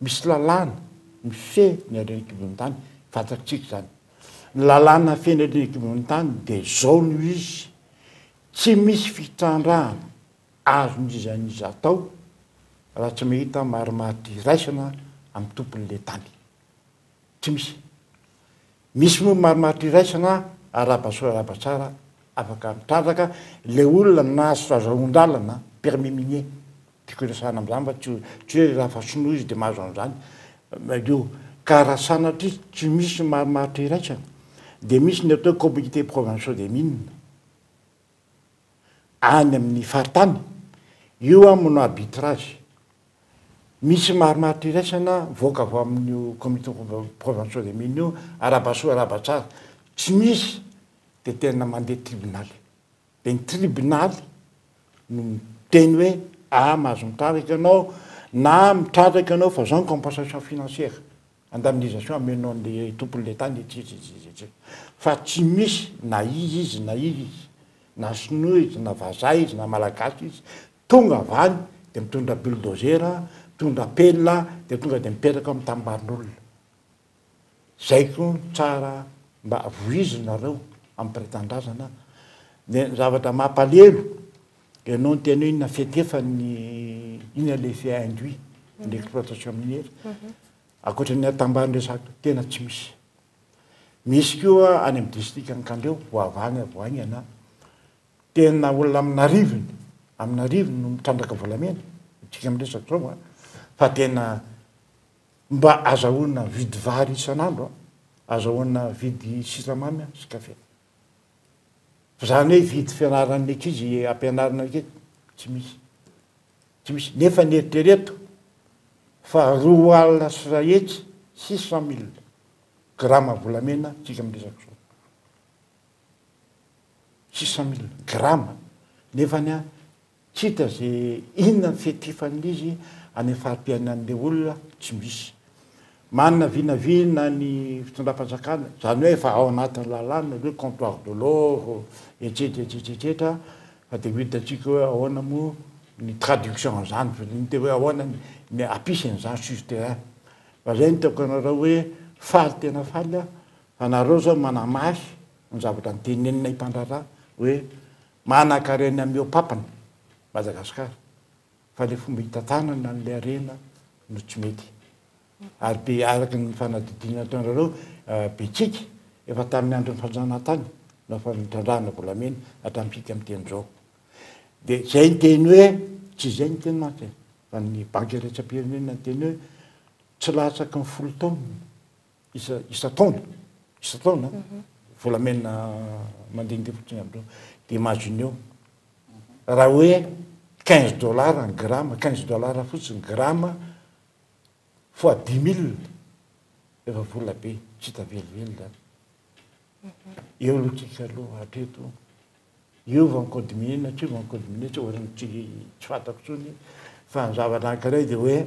Misy lalàna mifehy ny harena kibon'ny tany, fantatsika izany. Ny lalàna mifehy ny harena kibon'ny tany dia izao no izy, tsy misy fitrandrahana azon'iza n'iza atao raha tsy mahita marimaritra iraisana amin'ny tompon'ilay tany. Tsy misy. Misy moa marimaritra iraisana arahaba soa arahaba tsara afaka mitrandraka le olona nahazo fahazoan-dalana permis minier tiako iresahana amin'izany mba tsy tsy hoe raha fa sinoa izy de mahazo an'izany io ka raha sanatria tsy misy marimaritra iraisana de misy ny atao hoe comité provinciaux des mines any amin'ny faritany, io an mono arbitrage, misy maromaro iraisana mivoaka avy amin'io comité provinciaux des mines io, arahaba soa arahaba tsara, tsy misy dia tena mandeha tribonaly, dia ny tribonaly no miteny hoe ah mahazo mitrandraka ianao na mitrandraka ianao fa izao ny compensation financière. Indemnisation amenon'ny tompon'ilay tany etsieetseetseet. Fa tsy misy na iza izy na iza izy, na sinoa izy, na vazaha izy, na malagasy izy, tonga avy any dia mitondra bulldozer, mitondra pelle dia tonga dia mipetraka ao amin'ny tanim-barin'olona. Izay koa no tsara mba vohizinareo amim-piretan-drazana. Ny zavatra mampalelo. Ianao ny tena hoe inona fety efa ny inona ilay effet induit ny exploitation minière ankoatra ny atambahan'ny resaka tena tsy misy. Misy koa any amin'ny district Ankandreo voavahana vao haingana tena olona amin'arivony amin'arivony no mitrandraka volamena isika miresaka izao a fa tena mba azahoana vidy vary isan'andro a azahoana vidy siramamy sy kafe. Zany hoe hividy fianaran'ny ankizy hampianarina ankizy? Tsy misy. Tsy misy. Nefa ny eritrereto fa roa alina sy iray hetsy, six cent mille, grama volamena isika miresaka izao. Six cent mille, grama. Nefany an, Tsy hita ze inona ny fiankifan'izy any fari-piainan'le olona tsy misy. Manana vinavina ny fitondram-panjakana, zany hoe efa ao anatin'ny lalàna le comptoir de l'or etsetra etsetra etsetra fa de ho hitantsika hoe ahoana moa ny traduction an'zany fa de ny te hoe ahoana ny apisy an'zany sur terrain. Fa zay no tiako anareo hoe faly tena faly aho fa nareo zao manamahy ny zavatra notenenina i Mpandraharaha hoe Manakarena mihoa papany Madagascar fa le fomba hitantanana anle harena no tsy mety ary be araka ny fanadidina ataonareo betsiky efa taminy androny fanjanahantany no afa nitrandrahana volamena hatramy fika amy teny zao de zay niteny hoe tsy zay niteny mantsy e fa ny banky iraisam-pirenena niteny hoe tsy latsaky ny folo taonina isa isan-taona isan-taona volamena mandehandeha fotsiny amin'ireo dia imagineo raha hoe quinze dollars ny gramme quinze dollars fotsiny gramme fois dix mille efa vola be tsy hita velively zany eo aloha tsika aloha hatreto eo vao mi-codminer na tsy eo vao mi-codminer tsy ohatran'ny tsy tsy fantako intsony fa ny zavatra anankiray dia hoe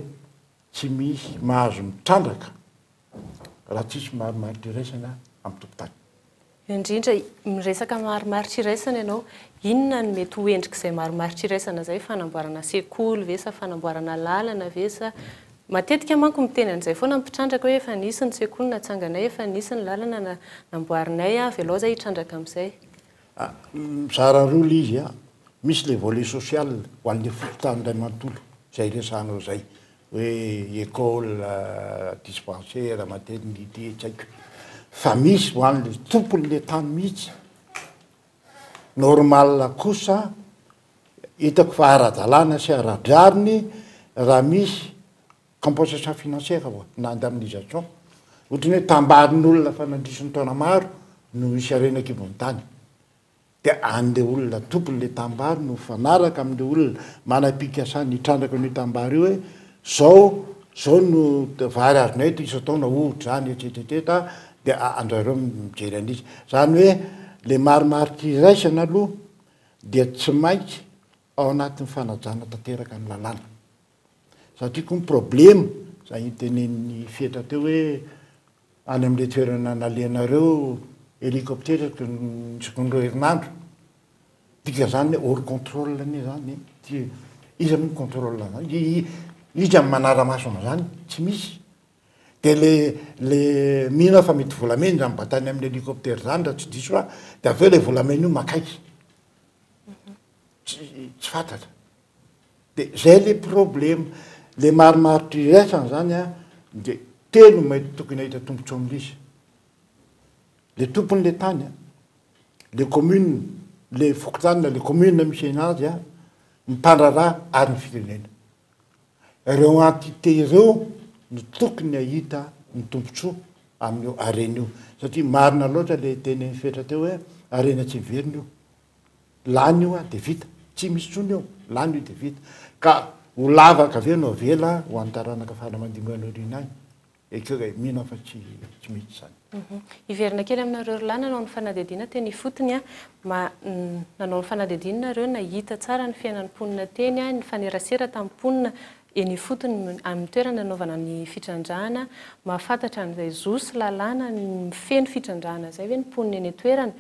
Tsy misy mahazo mitrandraka raha tsisy marimaritra iraisana amin'ny tompon-tany. Indrindra, miresaka marimaritra iraisana ianao, inona no mety ho endrik'izay marimaritra iraisana izay? Fanamboarana sekoly ve sa fanamboarana lalana ve sa? Matetika manko miteny an'izay foana ny mpitrandraka hoe efa nisy ny sekoly natsanganay, efa nisy ny lalana namboarinay, avelao izahay hitrandraka amin'izay. A, mizara roa ilay izy a. Misy ilay volet social ho an'ilay fokontany iray manontolo, izay resahanao izay, hoe école, dispensaire, maternité, tsy haiko. Fa misy ho an'ilay tompon'ilay tany mihitsy. Normal kosa, hitako fa ara-dalàna sy ara-drariny raha misy. Compensation financière ho'a na indemnisation, ohatry ny hoe tambarin'olona fa nandritra ny taona maro no nisy harena an-kibon'ny tany, dia an'ilay olona tompon'ilay tanimbary no mifanaraka amin'ilay olona manam-pikasana hitrandraka an'io tanimbary io hoe zao zao no vary azonay eto isan-taona ohatr'izany etsetretseta dia andrareo mijery an'izy. Izany hoe ilay marimaritra iraisana aloha dia tsy maintsy ao anatin'ny fanajana tanteraka ny lalàna. Satria koa ny problema, izay nitenenin'i Fetra teo hoe any amin'ilay toerana nalehanareo hélicoptère teo ny seconde roa herinandro, dikan'izany hoe hors contrôle anie izany, tsy, iza moa mi-contrôle an'izany? Iza no manara-maso an'izany? Tsy misy. Dia ilay, ilay mino aho fa mety volamena izany batany amin'ny hélicoptère izany raha tsy diso aho, dia avy eo ilay volamena io makaiky. Tsy tsy fantatra. De zay le problema. Le marimaritra iraisana zany a de telo no mety tokony hahita tombotsoa amin'izy. Le tompon'le tany a, le commune, le fokontany na le commune misy anazy a, ny mpandraharaha ary ny firenena. Reo entité reo no tokony hahita ny tombotsoa amin'io harena io. Satria marina loatra le tenin'i Fetra teo hoe harena tsy miverina io. lany io an dia vita, tsy misy intsony eo, lany io dia vita, ka ho lavaka avy eo no avela ho an'ny taranaka faran'ny mandimby any aoriana any, ekeo e, mino aho fa tsy tsy mety izany. Hiverina kely aminareo roa lahy nanao ny fanadihadiana teny ifotony an, ma nanao ny fanadihadiana nareo nahita tsara ny fiainan'ny mponina teny an, nifanerasera tamin'ny mponina eny ifotony amin'ny toerana nanaovana ny fitrandrahana, mahafantatra an'izay zo sy lalàna mifehy ny fitrandrahana izay ve ny mponina eny an-toerana,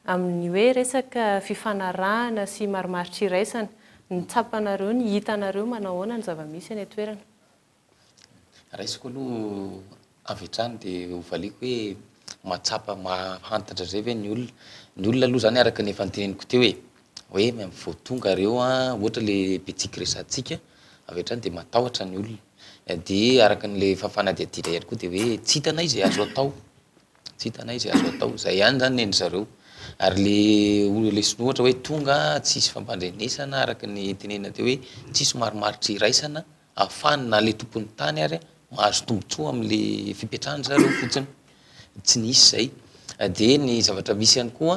Amin'ny hoe resaka fifanarahana sy marimaritra iraisana, ny tsapanareo, ny hitanareo, manao ahoana ny zava-misy eny an-toerana? Raisiko aloha avy hatrany dia hovaliako hoe mahatsapa, mahahantatra izay ve ny olona? Ny olona aloha izany araka ny efa noteneniko teo e, hoe vao tonga ireo ohatra le betsiky resahantsika avy hatrany dia matahotra ny olona, dia araka an'ilay efa fanadihadiana ihany koa dia hoe tsy hitanay izay azo atao. Tsy hitanay izay azo atao. Izay ihany izany nen'ny zareo. Ary le olona lesona ohatra hoe tonga tsisy fampandrenesana araka ny tenenina teo hoe tsisy marimaritra iraisana ahafahany na le tompon'ny tany ary mahazo tombotsoa amin'le fipetrahany zareo fotsiny. Tsy nisy izay. De ny zavatra misy ihany koa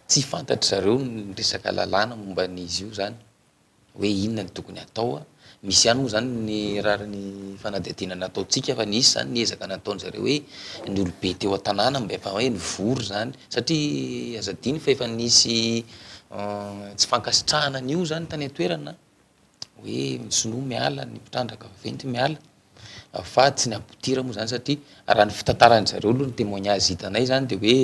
tsy fantatry zareo ny resaka lalàna momba an'izy io zany. hoe inona no tokony hatao. Misy ihany moa zany ny rariny fanadihadiana nataontsika fa nisy zany ny ezaka nataony zareo hoe ny olobe teo an-tanàna mba efa hoe nivory zany satria aza adino fa efa nisy tsy fankasitrahana an'io zany tany an-toerana hoe ny sinoa miala, ny mpitrandraka vaventy miala. Fa tsy ny aboutir moa zany satria raha ny fitantaran-dry zareo aloha ny témoignage hitanay zany de hoe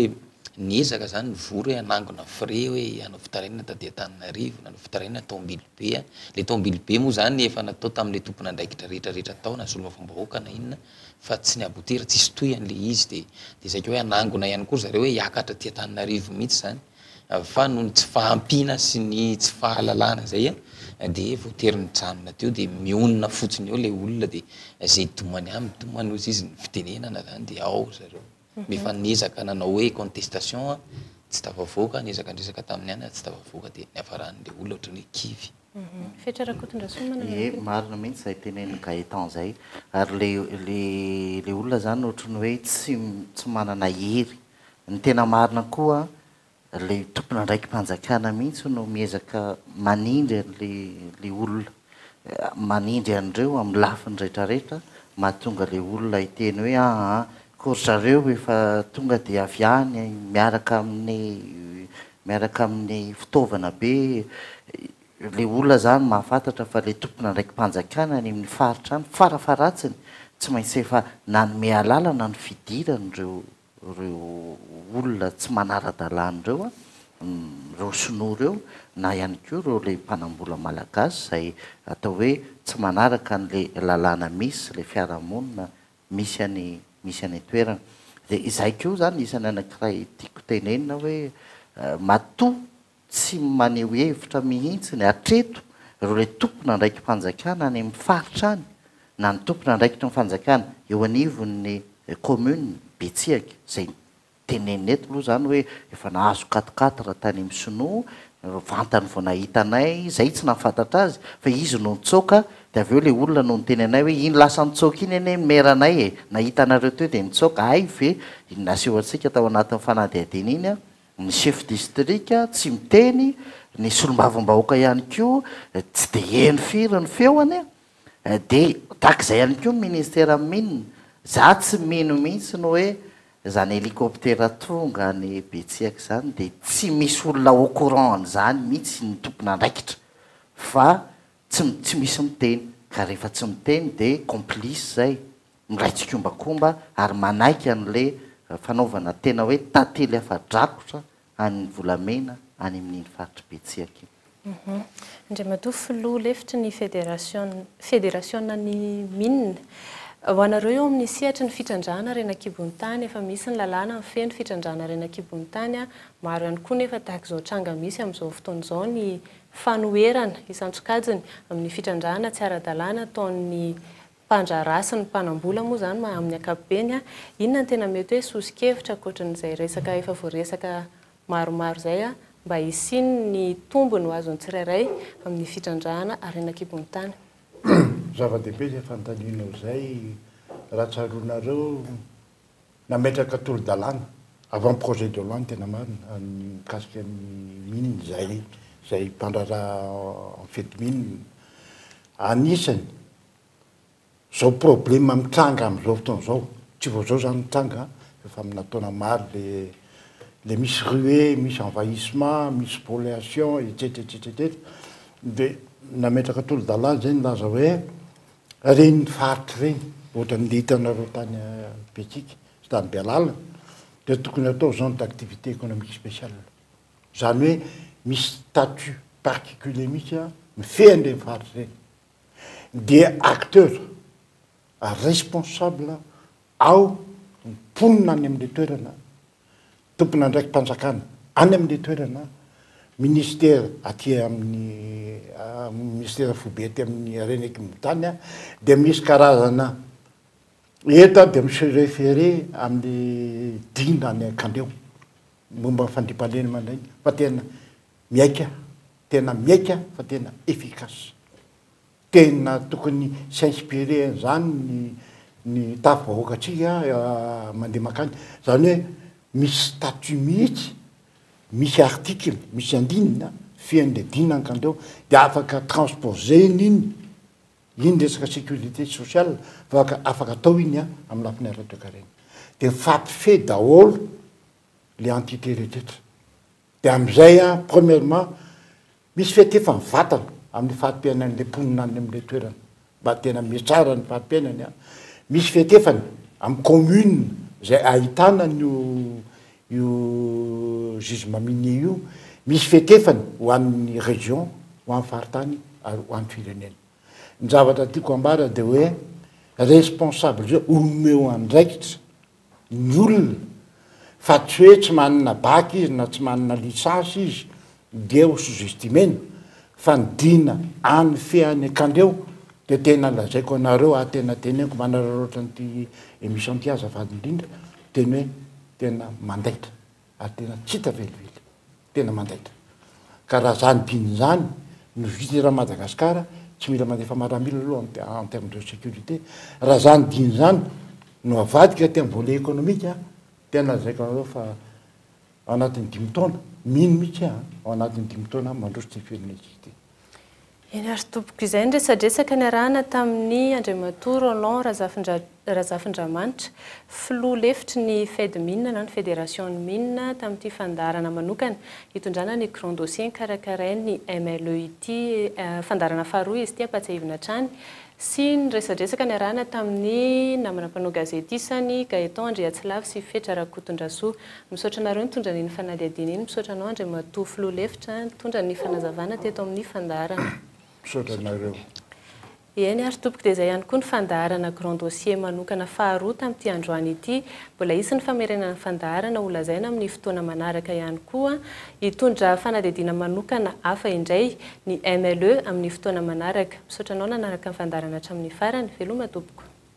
niezaka zany ny vory hoe hanangona frais hoe hanao fitarainana taty Antananarivo, nanao fitarainana tao Ambilobe a, le tao Ambilobe moa zany efa natao tam'le tompon'andraikitra rehetra rehetra tao na solombavambahoaka na inona fa tsy ny aboutir, tsisy tohiny le izy de de zay koa hoe hanangona ihany koa ry zareo hoe hiakatra aty Antananarivo mihitsy zany. fa noho ny tsy fahampiana sy ny tsy fahalalana zay dia voatery mijanona teo dia mionona fotsiny eo le olona dia zay domany aminy domany ozy izy ny fitenenana zany dia ao ry zareo efa niezaka nanao hoe contestation an tsy tafavoaka niezaka niresaka taminy ihany ary tsy tafavoaka dia niafarany le olona otrany hoe kivy Fetra Rakotondrasoa manana ny Ie, marina mihitsy zay tenenin'i Gaëtan zay. Ary le le le olona zany otrany hoe tsy tsy manana hery. Ny tena marina koa le tompon'andraiki-panjakana mihitsy no miezaka manindry an'le olona, manindry an'ireo amin'ny lafiny rehetra rehetra mahatonga le olona hiteny hoe aa ko ry zareo efa tonga dia avy any miaraka amin'ny miaraka amin'ny fitaovana be Ilay olona zany mahafantatra fa ilay tompon'andraiki-panjakana any amin'ny faritra any farafaharatsiny tsy maintsy efa nanome alalana ny fidiran'ireo ireo olona tsy manara-dalàna ireo an, ireo sinoa ireo na ihany koa ireo ilay mpanambola malagasy izay atao hoe tsy manaraka an'ilay lalàna misy ilay fiarahamonina misy any misy any an-toerana. Dia izay koa izany isan'ny anankiray tiako tenenina hoe matoa Tsy maneho hevitra mihitsiny hatreto ireo ilay tompon'andraiki-panjakana any amin'ny faritra any na ny tompon'andraikitry ny fanjakana eo anivon'ny kaominina Betsihaky izay tenenina eto aloha izany hoe efa nahazo quatre quatre tany amin'ny sinoa, vantany vao nahita anay, izay tsy nahafantatra azy fa izy no nitsoaka dia avy eo ilay olona no niteny anay hoe iny lasa nitsoaka iny anie ny maire anay e! nahita anareo teo dia nitsoaka, hay ve iny naseho antsika tao anatin'ny fanadihadiana iny an! Ny chef distrika tsy miteny, ny solombavambahoaka ihany koa tsy dia heno firy ny feony, dia takizay ihany koa ny ministera mine, za tsy mino mihitsy ny hoe izany hélicoptère tonga any Betsiaka izany dia tsy misy olona au courant an'izany mihitsy ny tompon'andraikitra fa Tsy tsy misy miteny, ka rehefa tsy miteny de complice zay, miray tsikombakomba ary manaiky anle fanaovana tena hoe tantely afa-drakotra an'ny volamena any amin'iny faritr'i Betsiaka iny. Andriamatoa Filoha lefitry ny federasiona, federasiona ny mines. Ho anareo eo amin'ny sehatry ny fitrandrahana harena an-kibon'ny tany, efa misy ny lalàna mifehy ny fitrandrahana harena an-kibon'ny tany, maro ihany koa nefa tahaka izao tranga misy amin'izao fotoana izao ny fanoherana isan-tsokajiny amin'ny fitrandrahana tsy ara-dalàna ataon'ny mpandraharaha sy ny mpanam-bola moa izany amin'ny ankapobeny, inona no tena mety hoe soso-kevitra ankoatran'izay resaka efa voaresaka maromaro izay mba hisian'ny tombony ho azon'ny tsirairay amin'ny fitrandrahana harena an-kibon'ny tany? Zava-dehibe izay fanontanianao izay raha tsaroanareo. nametraka tolo-dalàna, avant projet de loi ny tena marina, ny mikasika ny mines izay izay mpandraharaha anfetimines. Anisany izao problème mitranga amin'izao fotoana izao, tsy vao izao izany mitranga an, efa aminà taona maro ilay ilay misy ruée, misy envahissement, misy spoliation, etsetra etsetra etsetra, dia nametraka tolo-dalàna izay nilaza hoe Ireny faritra ireny ohatran'ny le hitanareo tany Betsiky sy tany Bealala dia tokony atao zone d'activité économique spéciale. Izany hoe misy statut particulier mihitsy mifehy an'ireny faritra ireny. Dia acteur responsable ao ny mponina any amin'ilay toerana Tompon'andraiki-panjakana any amin'ilay toerana, Ministera aty amin'ny Ministera foibe aty amin'ny harena ekim tany dia misy karazana eto dia mi-se référer amin'ny Dina any Ankandreo momba ny fandriampahalemana iny fa tena miaika, tena miaika fa tena efficace. Tena tokony s'inspirer an'izany ny ny tafo vahoakantsika mandeha mankany. Izany hoe misy statut mihitsy, misy article, misy andinina fehin'ilay dina ankandreo dia afaka transposer-na iny, iny resaka sécurité sociale fa afaka atao iny an, amin'ny lafiny ara-toekarena. Dia mifampifehy daholo ilay entité rehetrarehetra. Dia amin'izay an, premièrement, Misy fiatefan'ny vatana amin'ny fari-piainan'ilay mponina any amin'ilay toerana mba tena mihatsara ny fari-piainany. Misy fiatefany amin'ny commune izay ahitana an'io io juge mamie io. Misy fiatefany ho an'ny région, ho an'ny faritany ary ho an'ny firenena. Ny zavatra tiako ambara dia hoe responsable omeo andraikitra ny olona fa tsy hoe tsy manana bac izy na tsy manana licence izy dia ho sous-estimena fa ny dina any feany akandreo dia tena lazaiko anareo ah tena teneniko manararaotra an'ity emission ity azafady indrindra teny hoe tena mandaitra ary tena tsy hita velively, tena mandaitra. Ka raha zany diny zany no vita eran'i Madagascar, tsy mila mandefa maramila aloha en terme de securite, raha zany diny zany no avadika aty am volet economique an, tena lazaiko anareo fa ao anatin'ny dimy taona, mino mitsy aho an, ao anatin'ny dimy taona mandroso ty firenentsika ty. Eny ary tompoko, izay ny resadresaka niarahana tamin'ny Andriamatoa Roland Razafindra Razafindramanitra, Filoha lefitry ny Fedmine na ny Federasion'ny Mine tamin'ity fandaharana manokana hitondrana ny Grand Dossier karakarain'ny MLE ity, fandaharana faharoa izy ity ampahatsiahivina hatrany, sy ny resadresaka niarahana tamin'ny namana mpanao gazety isany, Gaëtan Andriatsilavo sy Fetra Rakotondrasoa. Misaotra anareo nitondra an'iny fanadihadiana iny, misaotra anao Andriamatoa Filoha Lefitra nitondra ny fanazavana teto amin'ny fandaharana. Misaotra anareo. Eny ary tompoko, dia izay ihany koa ny fandaharana Grand Dossier manokana faharoa tamin'ity androany ity. Mbola hisy ny famerenana ny fandaharana ho lazaina amin'ny fotoana manaraka ihany koa. Hitondra fanadihadiana manokana hafa indray ny MLE amin'ny fotoana manaraka. Misaotra anao nanaraka ny fandaharana hatramin'ny farany. Veloma tompoko.